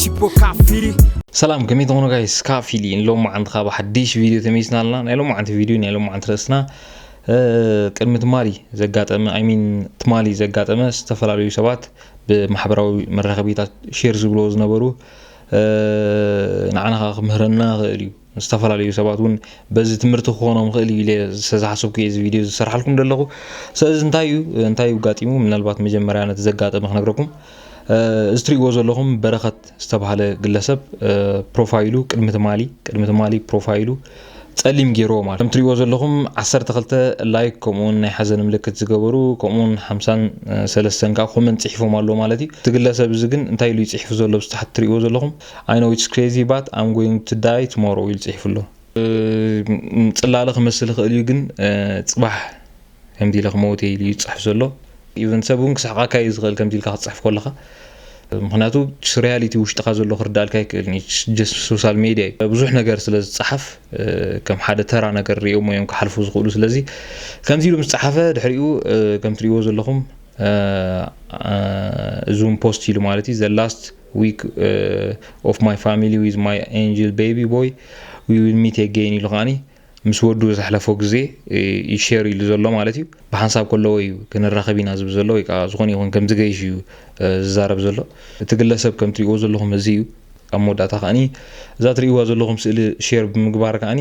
ቺፖ ካፊሪ ሰላም ከመይ ትኾኑ ጋይስ ካብ ፊሊ ሎም መዓንቲ ካብ ሓድሽ ቪድዮ ተመይስና ኣለና ናይ ሎም መዓንቲ ቪድዮ ናይ ሎም መዓንቲ ርእስና ቅድሚ ትማሊ ዘጋጠመ ኣይሚን ትማሊ ዘጋጠመ ዝተፈላለዩ ሰባት ብማሕበራዊ መራኸቢታት ሼር ዝብልዎ ዝነበሩ ንዓና ክምህረና ይኽእል እዩ ዝተፈላለዩ ሰባት እውን በዚ ትምህርቲ ክኾኖም ይኽእል እዩ ኢለ ዝተዝሓሰብኩ እየ እዚ ቪድዮ ዝሰርሓልኩም ዘለኹ ስለዚ እንታይ እዩ እንታይ እዩ ጋጢሙ ምናልባት መጀመርያ ነቲ ዘጋጠመ ክነግረኩም እዚ ትሪእዎ ዘለኹም በረኸት ዝተባሃለ ግለሰብ ፕሮፋይሉ ቅድሚ ትማሊ ቅድሚ ትማሊ ፕሮፋይሉ ጸሊም ገይርዎ ማለት ከም ትሪእዎ ዘለኹም 12 ላይክ ከምኡውን ናይ ሓዘን ምልክት ዝገበሩ ከምኡውን 53 ከዓ ኮመንት ጽሒፎም ኣሎ ማለት እዩ እቲ ግለሰብ እዚ ግን እንታይ ኢሉ ይጽሒፉ ዘሎ ብስተሓት ትሪእዎ ዘለኹም I know it's crazy but I'm going to die tomorrow ኢሉ ጽሒፉ ኣሎ። ጽላለ ክመስል ይኽእል እዩ ግን ጽባሕ ከምዚ ኢለ ክመውት እየ ኢሉ እዩ ዝጽሕፍ ዘሎ። ኢቨን ሰብ እውን ክስሕቓካ እዩ ዝኽእል ከምዚ ኢልካ ክትጽሕፍ ከለኻ ምክንያቱ ሪያሊቲ ውሽጥካ ዘሎ ክርዳልካ ኣይክእልን እዩ ሶሻል ሜድያ እዩ ብዙሕ ነገር ስለ ዝፀሓፍ ከም ሓደ ተራ ነገር ሪኦሞ እዮም ክሓልፉ ዝኽእሉ ስለዚ ከምዚ ኢሉ ምስ ፀሓፈ ድሕሪኡ ከም ትሪእዎ ዘለኹም እዙም ፖስት ኢሉ ማለት እዩ ዘላስት ዊክ ኦፍ ማይ ፋሚሊ ዊዝ ማይ ኤንጅል ቤቢ ቦይ ዊ ዊል ሚት ኤገይን ኢሉ ከዓኒ ምስ ወዱ ዘሕለፎ ግዜ እዩ ሼር ኢሉ ዘሎ ማለት እዩ ብሓንሳብ ከለዎ እዩ ክንራኸብ ኢና ዝብል ዘሎ ወይ ከዓ ዝኾነ ይኹን ከም ዝገይሽ እዩ ዝዛረብ ዘሎ እቲ ግለሰብ ከም ትሪእዎ ዘለኹም እዚ እዩ ኣብ መወዳእታ ከዓኒ እዛ ትሪእዋ ዘለኹም ስእሊ ሼር ብምግባር ከዓኒ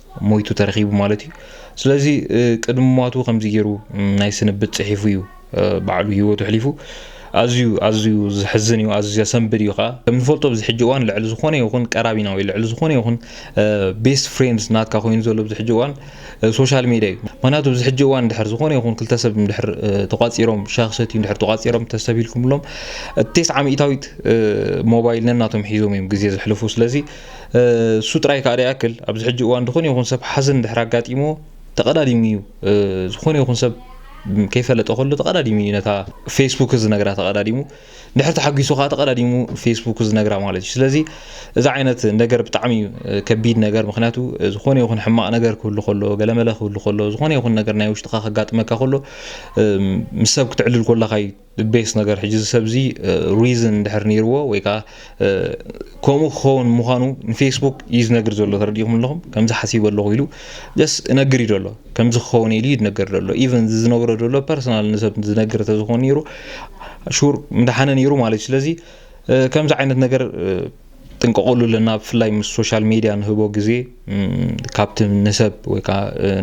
ሞይቱ ተረኺቡ ማለት እዩ ስለዚ ቅድሚ ሟቱ ከምዚ ገይሩ ናይ ስንብት ጽሒፉ እዩ ባዕሉ ህይወቱ ሕሊፉ ኣዝዩ ኣዝዩ ዝሕዝን እዩ ኣዝዩ ዘሰንብድ እዩ ከዓ ከምንፈልጦ ኣብዚ ሕጂ እዋን ልዕሊ ዝኾነ ይኹን ቀራቢና ወይ ልዕሊ ዝኾነ ይኹን ቤስት ፍሬንድስ ናትካ ኮይኑ ዘሎ ኣብዚ ሕጂ እዋን ሶሻል ሜድያ እዩ ምክንያቱ ኣብዚ ሕጂ እዋን ድሕር ዝኾነ ይኹን ክልተ ሰብ ድሕር ተቋፂሮም ሻክ ሰትዩ ድሕር ተቋፂሮም ተሰቢልኩምሎም ቴስዓ ሚእታዊት ሞባይል ነናቶም ሒዞም እዮም ግዜ ዘሕልፉ ስለዚ እሱ ጥራይ ከኣ ደይኣክል ኣብዚ ሕጂ እዋን ዝኾነ ይኹን ሰብ ሓዘን ድሕር ኣጋጢሞ ተቐዳዲሙ እዩ ዝኾነ ይኹን ሰብ ከይፈለጠ ከሎ ተቐዳዲሙ እዩ ነታ ፌስቡክ ዝነግራ ተቐዳዲሙ ድሕር ተሓጒሱ ከዓ ተቐዳዲሙ ፌስቡክ ዝነግራ ማለት እዩ ስለዚ እዚ ዓይነት ነገር ብጣዕሚ እዩ ከቢድ ነገር ምክንያቱ ዝኾነ ይኹን ሕማቕ ነገር ክህሉ ከሎ ገለመለ ክህሉ ከሎ ዝኾነ ይኹን ነገር ናይ ውሽጥኻ ከጋጥመካ ከሎ ምስ ሰብ ክትዕልል ኮለኻ እዩ the best ነገር ሕጂ እዚ ሰብ እዚ reason እንድሕር ነይርዎ ወይ ከዓ ከምኡ ክኸውን ምዃኑ ንፌስቡክ እዩ ዝነግር ዘሎ ተረዲእኹም ኣለኹም ከምዚ ሓሲበ ኣለኹ ኢሉ ጀስ እነግር እዩ ዘሎ ከምዚ ክኸውን ኢሉ እዩ ዝነገር ዘሎ ኢቨን እዚ ዝነግሮ ዘሎ ፐርሰናል ንሰብ ዝነግር ተዝኾን ነይሩ ሹር ምደሓነ ነይሩ ማለት እዩ ስለዚ ከምዚ ዓይነት ነገር ጥንቀቑሉ ኣለና ብፍላይ ምስ ሶሻል ሜድያ ንህቦ ግዜ ካብቲ ንሰብ ወይ ከዓ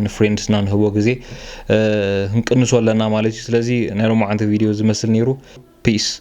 ንፍሬንድስና ንህቦ ግዜ ክንቅንሶ ኣለና ማለት እዩ ስለዚ ናይ ሎማዓንቲ ቪድዮ ዝመስል ነይሩ ፒስ